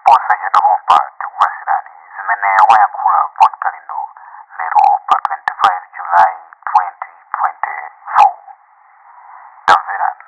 Posachedwa pompa tikupatsirani zimene wayankhula Bon Kalindo lero pa 25 July 2024. Tamverani.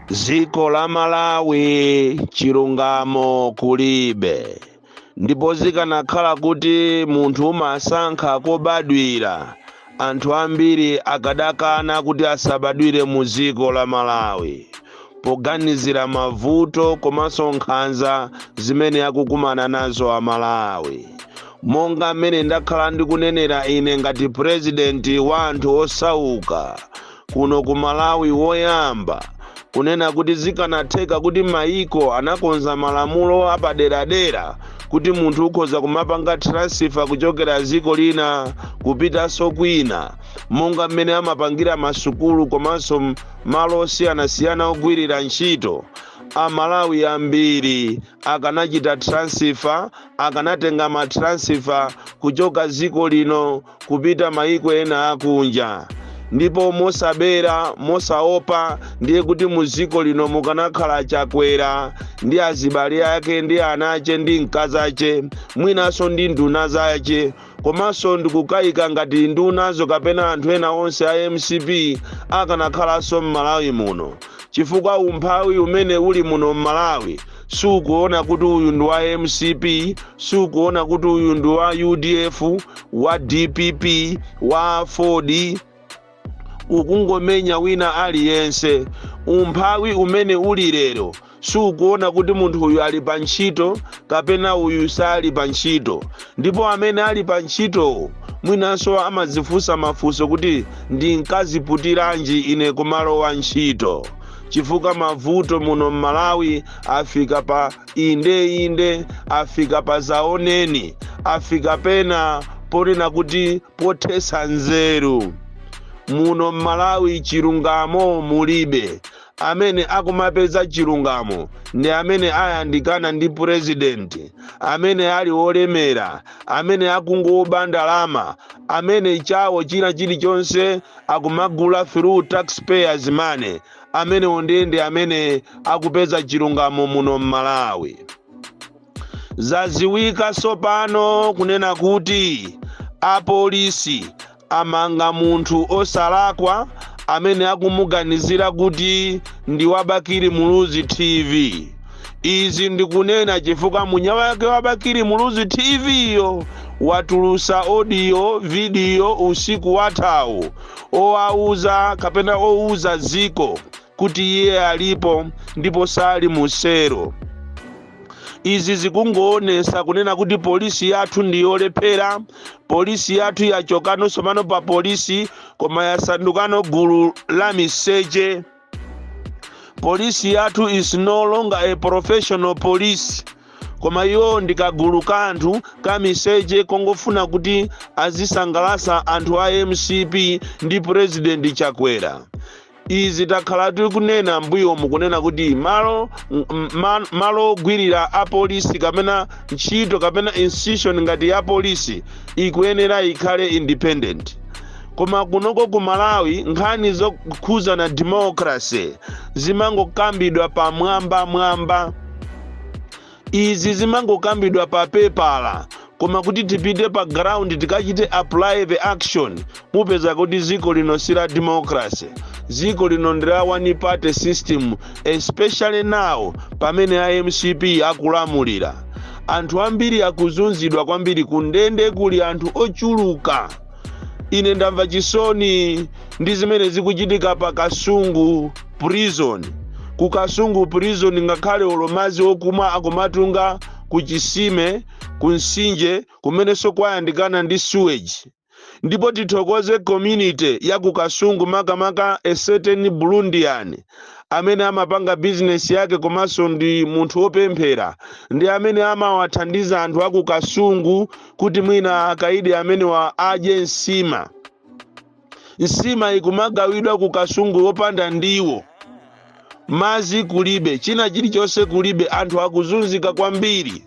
Dziko la Malawi chilungamo kulibe ndipo zikanakhala kuti munthu umasankha kobadwira anthu ambiri akadakana kuti asabadwire mu dziko la Malawi poganizira mavuto komanso nkhanza zimene akukumana nazo a Malawi. Monga mmene ndakhala ndikunenera ine ngati purezidenti wa anthu osauka, kuno ku Malawi woyamba kunena kuti zikanatheka kuti mayiko anakonza malamulo apaderadera kuti munthu ukhoza kumapanga transfer kuchokera dziko lina kupitanso kwina monga mmene amapangira masukulu komanso m- malo osiyanasiyana ogwirira ntchito amalawi ambiri akanachita transfer akanatenga matransifa kuchoka dziko lino kupita mayiko ena akunja ndipo mosabisa mosaopa ndiye kuti mu dziko lino mukanakhala chakwera ndi azibale ake ndi anache ndi mkazache mwinanso ndi nduna zache komanso ndikukayika ngati ndunazo kapena anthu ena onse a mcp akanakhalanso m'malawi muno chifukwa umphawi umene uli muno m'malawi sukuona kuti uyu ndi wa mcp sukuona kuti uyu ndi wa udf wa dpp wa aford ukungomenya wina aliyense umphawi umene uli lero sukuona kuti munthu uyu ali pa ntchito kapena uyu sali pa ntchito ndipo amene ali pa ntchitowo mwinanso amadzifunsa mafunso kuti ndinkaziputiranji ine kumalowa ntchito chifukwa mavuto muno m'malawi afika pa Inde, inde, afika padzaoneni, afika pena ponena kuti pothetsa nzeru. Muno m'Malawi chilungamo mulibe. Amene akumapeza chilungamo ndi amene ayandikana ndi purezidenti, amene ali olemera, amene akungoba ndalama, amene chawo china chilichonse akumagula through taxpayers money. amenewo ndiye ndi amene akupeza chilungamo muno m'malawi zadziwika tsopano kunena kuti apolisi amanga munthu osalakwa amene akumuganizira kuti ndi wabakiri muluzi tv izi ndikunena chifukwa mwini wake wabakiri muluzi tv yo watulusa audio video usiku wathawu owauza kapena ouza dziko kuti iye alipo ndipo sali mu selo izi zikungoonesa kunena kuti polisi yathu ndi yolephera polisi yathu yachokano somano pa polisi koma yasandukano gulu la miseche polisi yathu is no longer a professional police koma iwo ndi kagulu ka anthu ka miseche kongofuna kuti azisangalasa anthu a mcp ndi purezidenti chakwera izi takhala tikunena mbuyomu kunena kuti malo ogwirira apolisi kapena ntchito kapena institution ngati ya polisi ikuyenera ikhale independent koma kunoko ku malawi nkhani zokhuzana democracy zimangokambidwa pamwambamwamba izi zimangokambidwa pa pepala koma kuti tipite pa ground tikachite apply the action mupeza kuti ziko lino si la democracy ziko lino ndi la one party system especially now pamene a mcp akulamulira anthu ambiri akuzunzidwa kwambiri kundende kuli anthu ochuluka ine ndamva chisoni ndi zimene zikuchitika pa kasungu prison ku kasungu prison ngakhale olo madzi okumwa akumatunga ku chisime ku nsinje kumenenso kwayandikana ndi sewage ndipo tithokoze community ya ku kasungu makamaka a certain burundian amene amapanga bizinesi yake komanso ndi munthu wopemphera ndi amene amawathandiza anthu a ku kasungu kuti mwina akaidi amenewa adye nsima nsima ikumagawidwa ku kasungu yopanda ndiwo madzi kulibe china chilichonse kulibe anthu akuzunzika kwambiri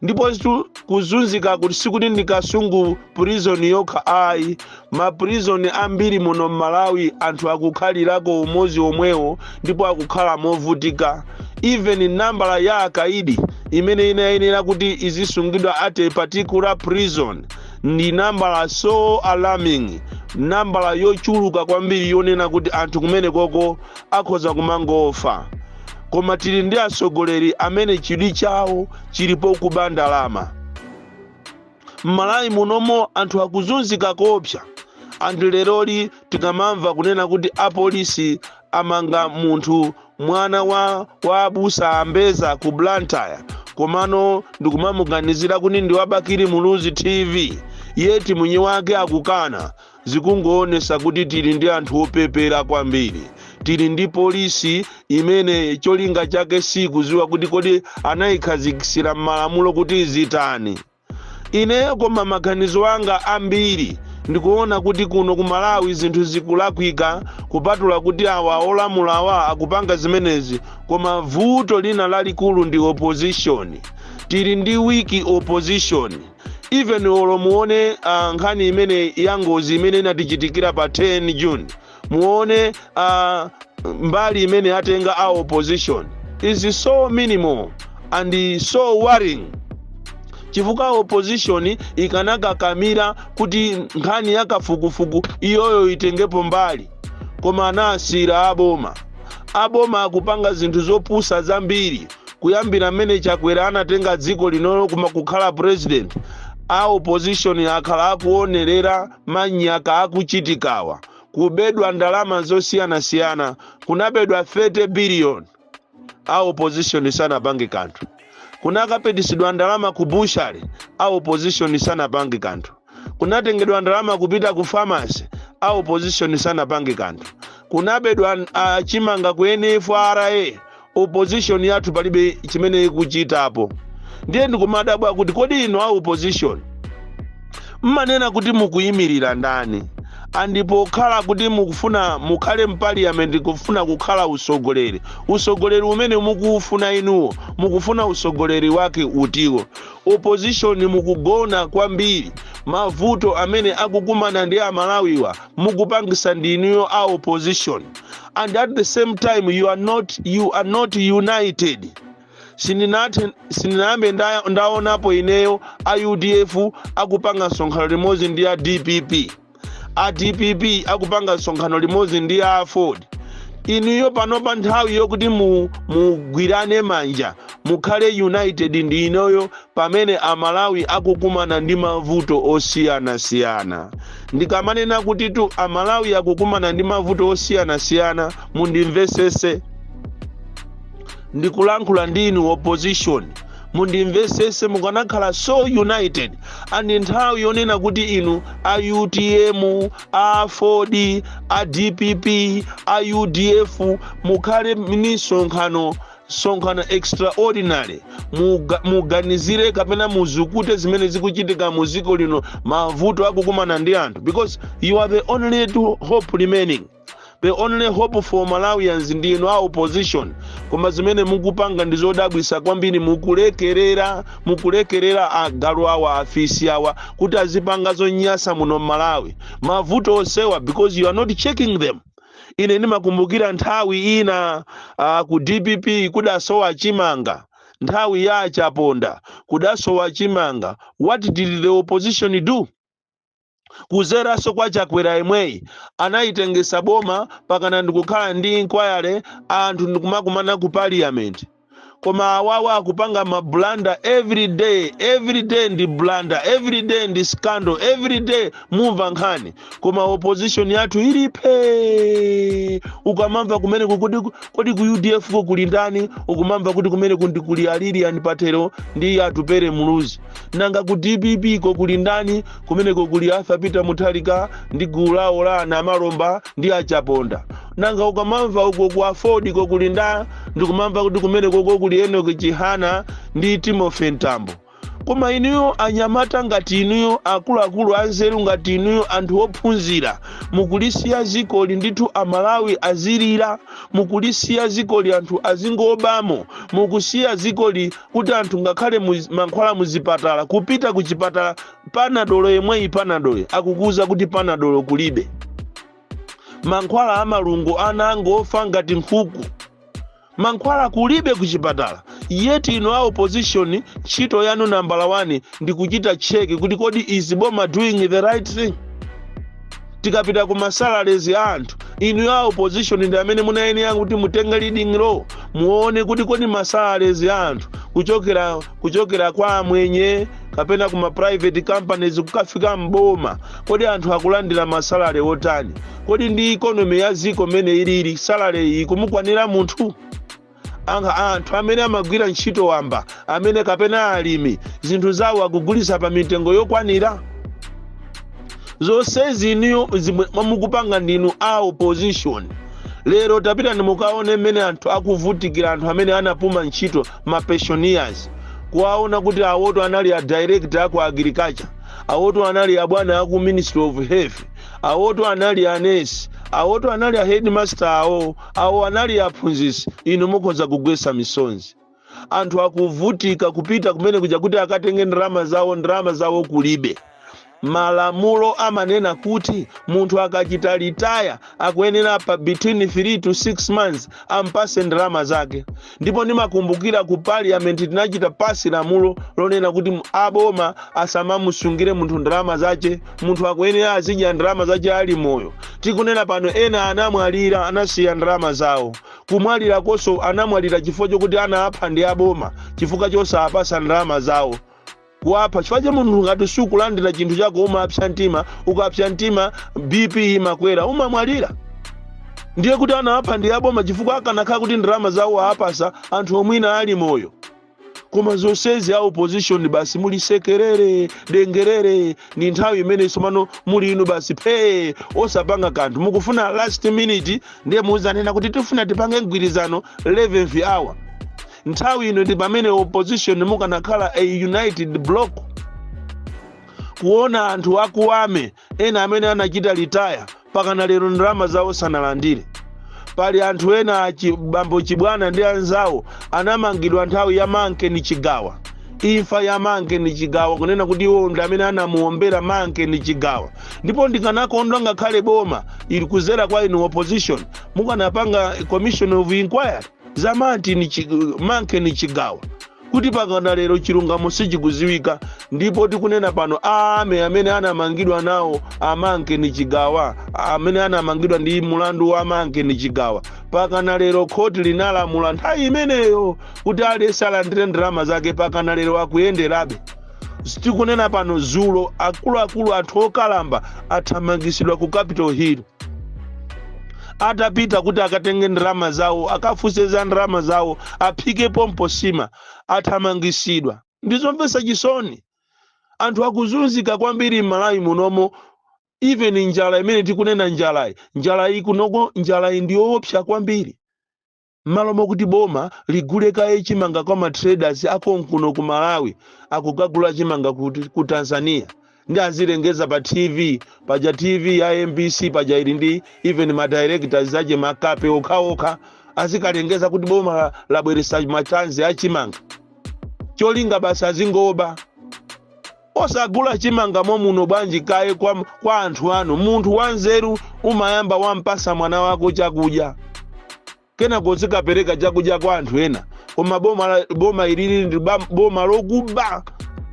ndipo situ- kuzunzikaku sikuti ndi kasungu prison yokha ayi maprison ambiri muno mmalawi anthu akukhalirako umodzi womwewo ndipo akukhala movutika even nambala ya akaidi imene inayenera kuti izisungidwa at a particular prison ndi nambala so alarming nambala yochuluka kwambiri yonena kuti anthu kumenekoko akhoza kumangofa koma tili ndi atsogoleri amene chidwi chawo chili pokuba ndalama m'malawi munomo anthu akuzunzika koopsa and leroli tikamamva kunena kuti apolisi amanga munthu mwana wa wa abusa a mbeza ku blantyre komano ndikumamuganizira kuti ndi wa bakili muluzi tv yeti mwini wake akukana Zikungoonesa kuti tili ndi anthu opepera kwambiri. Tili ndi police imene cholinga chake siikuziwa kuti kodi anaikhazikisira mmalamulo kuti izitani. Ineyo koma maganizo anga ambiri ndikuona kuti kuno ku Malawi zinthu zikulakwika kupatula kuti awa olamula awa akupanga zimenezi koma vuto lina lalikulu ndi opposition. Tili ndi weak opposition. even olo muone uh, nkhani imene ya ngozi imene inatichitikira pa 10 june muone uh, mbali imene atenga a opposition is so minimal and so worrying chifukwa opposition ikanakakamira kuti nkhani ya kafukufuku iyoyo itengepo mbali koma anasiyira aboma aboma akupanga zinthu zopusa zambiri kuyambira mmene chakwera anatenga dziko linolo kumakhala president a opposition akhala akuonerera manyaka akuchitikawa kubedwa ndalama zosiyanasiyana kunabedwa 30 billion a opposition sanapange kanthu kunakapitisidwa ndalama ku butchery a opposition sanapange kanthu kunatengedwa ndalama kupita ku famasi a opposition sanapange kanthu kunabedwa uh, chimanga ku nfra opposition yathu palibe chimene ikuchitapo ndiye ndikumadabwa kuti kodi inu a opposition mmanena kuti mukuyimirira ndani and pokhala kuti mukufuna mukhale mpaliyamenti kufuna kukhala usogoleri usogoleri umene mukuufuna inuwo mukufuna usogoleri wake utiwo Opposition mukugona kwambiri, mavuto amene akukumana ndi amalawiwa mukupangisa ndi inuyo a opposition and at the same time you are not, you are not united. Sindinathe, sindinayambe nda, ndaonapo ineyo a udf akupanga msonkhano limodzi ndi a dpp. a dpp akupanga msonkhano limodzi ndi a aford inuyo panopa nthawi yokuti mu- mugwirane manja mukhale united ndi inoyo pamene amalawi akukumana ndi mavuto osiyanasiyana ndikamanena kutitu amalawi akukumana ndi mavuto osiyanasiyana mundimvesese ndikulankhula ndi inu opposition mundimvesese mukanakhala so united and nthawi yonena kuti inu a utm a aford a dpp a udf mukhale ndi sonkhano sonkhano extraordinary Muga, muganizire kapena muzukute zimene zikuchitika mu dziko lino mavuto akukumana ndi anthu because you are the only hope remaining the only hope for malawians ndi inu a opposition koma zimene mukupanga ndi zodabwisa kwambiri mukulekerera mukulekerera agalu awa afisi awa kuti azipanga zonyasa muno mmalawi mavuto osewa because you are not checking them ine ndimakumbukira nthawi ina uh, ku dpp kudasowa chimanga nthawi ya achaponda kudasowa chimanga what did the opposition do kudzeranso kwa chakwera yemweyi anayitengesa boma pakana ndikukhala ndi inquiry anthu ndikumakumana ku parliament koma awawa akupanga mabulanda every day every day ndi bulanda every day ndi scandal every day mumva nkhani koma opposition yathu ili phe ukamamva kumeneku kuti kodi ku udf ko kuli ndani ukumamva kuti kumeneku ndi kuli a lilian patel ndi atupere muluzi nanga ku dpp ko kuli ndani kumeneko kuli arthur peter mutharika ndi gulu lawo la anamalomba ndi achaponda nanga ukamamva uko ku aford ko kuli nda ndikumamva kuti kumeneko ko kuli enoki chihana ndi timothy mtambo koma inuyo anyamata ngati inuyo akuluakulu anzeru ngati inuyo anthu ophunzira mukulisiya zikoli ndithu amalawi azilira mukulisiya zikoli anthu azingobamo mukulisiya zikoli kuti anthu ngakhale mankhwala mu zipatala kupita ku chipatala panadolo yemweyi panadolo akukuuza kuti panadolo kulibe mankhwala a malungo ana angofa ngati nkhuku mankhwala kulibe ku chipatala yet inu a opposition ntchito yanu nambala 1 ndi kuchita cheki kuti kodi is boma doing the right thing tikapita ku masalalezi a anthu inu a opposition ndi amene munayenera kuti mutenge leading role muone kuti kodi ma salaries a anthu kuchokera kuchokera kwa amwenye kapena ku ma private companies kukafika mboma kodi anthu akulandira ma salary otani kodi ndi economy ya ziko mmene ilili salary ikumukwanira munthu Nanga anthu amene amagwira ntchito wamba amene kapena alimi zinthu zawo akugulitsa pa mitengo yokwanira zonsezi inuyo zimwe mwamukupanga ndinu a opposition lero tapitani mukaone mmene anthu akuvutikira anthu amene anapuma ntchito ma pensioners kuwaona kuti awoto anali a director aku agriculture awoto anali abwana aku ministry of health awoto anali anesi awoto anali a headmaster awo Awo anali aphunzitsi, inu mukhoza kugwetsa misonzi. Anthu akuvutika kupita kumene kuja kuti akatenge ndalama zawo, ndalama zawo kulibe. Malamulo amanena kuti munthu akachita retire akuyenera pa between 3 to 6 months ampase ndalama zake. ndipo ndimakumbukira ku parliament tinachita pasi lamulo lonena kuti mu- aboma asamamusungire munthu ndalama zache munthu akuyenera azidya ndalama zache ali moyo tikunena pano ena anamwalira anasiya ndalama zawo kumwalira koso anamwalira chifukwa chokuti anawapha ndi aboma chifukwa chosawapasa ndalama zawo kuwapha chifukwa cha munthu ngati sukulandira chinthu chako umapsa mtima ukapsa mtima bp imakwera umamwalira ndiye kuti anawapha ndi aboma chifukwa akanakhala kuti ndalama zawo awapasa anthu omwina ali moyo koma zonsezi a opposition basi muli sekerere dengerere ni nthawi imene somano muli inu basi phee osapanga kanthu mukufuna last minute ndiye muuzanena kuti tifuna tipange mgwirizano 11th hour nthawi ino ndi pamene opposition mukanakhala a united block kuona anthu akuwame ena amene anachita retire pakana lero ndalama zawo sanalandire pali anthu ena achi- bambo chibwana ndi anzawo anamangidwa nthawi ya Mankeni Chigawa imfa ya Mankeni Chigawa kunena kuti iwo ndi amene anamuombera Mankeni Chigawa ndipo ndikanakondwa ngakhale boma ili kuzera kwa inu opposition mukanapanga commission of inquiry za Martin Chi- Mankeni Chigawa kuti pakana lero chilungamo sichikuziwika ndipo tikunena pano ame amene anamangidwa nawo a Mankeni Chigawa amene anamangidwa ndi mulandu wa Mankeni Chigawa pakana lero khoti linalamula nthawi imeneyo kuti aliyense alandire ndalama zake pakana lero akuyenderabe tikunena pano zulo akuluakulu anthu okalamba athamangisidwa ku capital hill atapita kuti akatenge ndalama zawo akafunse za ndalama zawo aphike pompo sima athamangisidwa ndizomvetsa chisoni anthu akuzunzika kwambiri m'malawi munomo even njala imene tikunena njalayi njalayi kunoko njalayi ndiyoopsa kwambiri Mmalo mokuti boma ligule kaye chimanga kwa ma traders a konkuno ku Malawi akukagula chimanga kuti? Ku Tanzania. Ndi azilengeza pa TV paja TV ya mbc paja ili ndi even ma directors ake makape okhaokha azikalengeza kuti boma la- labweresa ma tons a chimanga. Cholinga basi azingoba. Osagula chimanga momuno bwanji kaye kwa kwa anthu anu. Munthu wanzeru umayamba wampasa mwana wako chakudya. Kenako uzikapereka chakudya kwa anthu ena. Koma boma la- boma ilili ndi bam- boma lokuba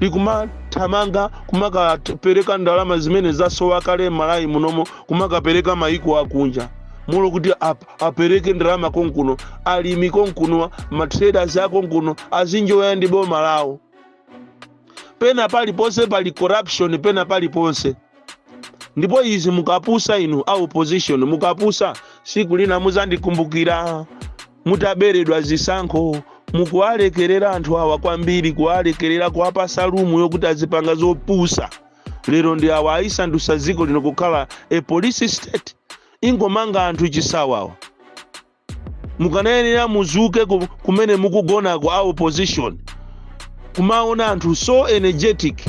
likumathamanga kumakapereka ndalama zimene zasowa kale m'Malawi munomo kumakapereka maiko akunja. Mmalo kuti ap- apereke ndalama konkuno alimi konkuno matraders akonkuno azinjoya ndi boma lawo. pena paliponse pali corruption pena paliponse ndipo izi mukapusa inu a opposition mukapusa siku lina muzandikumbukira mutaberedwa zisankho mukuwalekerera anthu awa kwambiri kuwalekerera kuwapasa room yokuti azipanga zopusa lero ndi awa ayisandusa dziko lino kukhala a police state ingomanga anthu chisawawa mukanayenera muzuke ku- kumene mukugonako a opposition kumaona anthu so energetic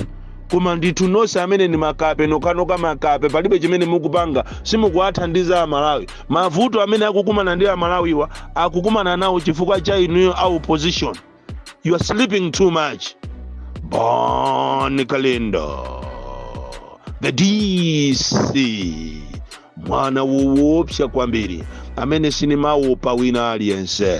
koma ndithu nonse amene ndi makape nokanoka makape palibe chimene mukupanga simukuwathandiza amalawi mavuto amene akukumana ndi amalawiwa akukumana nawo chifukwa cha inuyo a opposition you are sleeping too much bon kalindo the dc mwana woopsa kwambiri amene sinimaopa wina aliyense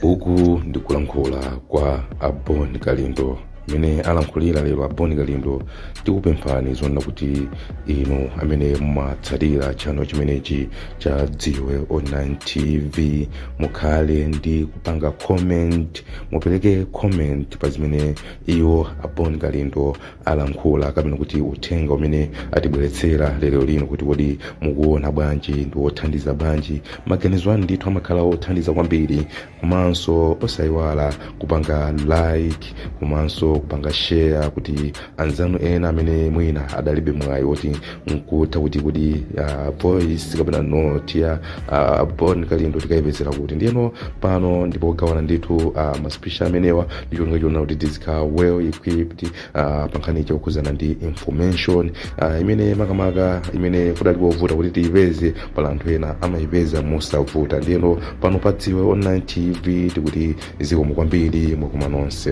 uku ndikulankhula kwa a bon kalindo mmene alankhulira lero a bon kalindo tikupemphani zonena kuti inu amene mumatsatira channel chimenechi cha dziwe online tv mukhale ndi kupanga comment mupereke comment pa zimene iwo a bon kalindo alankhula kapena kuti uthenga umene atibweretsera lero lino kuti kodi mukuona bwanji ndi wothandiza bwanji maganizo anu ndithu amakhala othandiza kwambiri komanso osayiwala kupanga like komanso kupanga share kuti anzanu ena amene mwina adalibe mwayi woti nkutha kuti kuti uh, voice kapena note ya uh, bon kalindo tikayipezera kuti ndiyeno pano ndi pogawana ndithu uh, maspeech amenewa ndi cholinga chonena kuti tizikhala well equipped uh, pankhani yokhudzana ndi information uh, imene makamaka imene kudali kovuta kuti tiyipeze pali anthu ena amayipeza mosavuta ndiyeno pano pa dziwe online tv tikuti zikomo kwambiri mwakoma nonse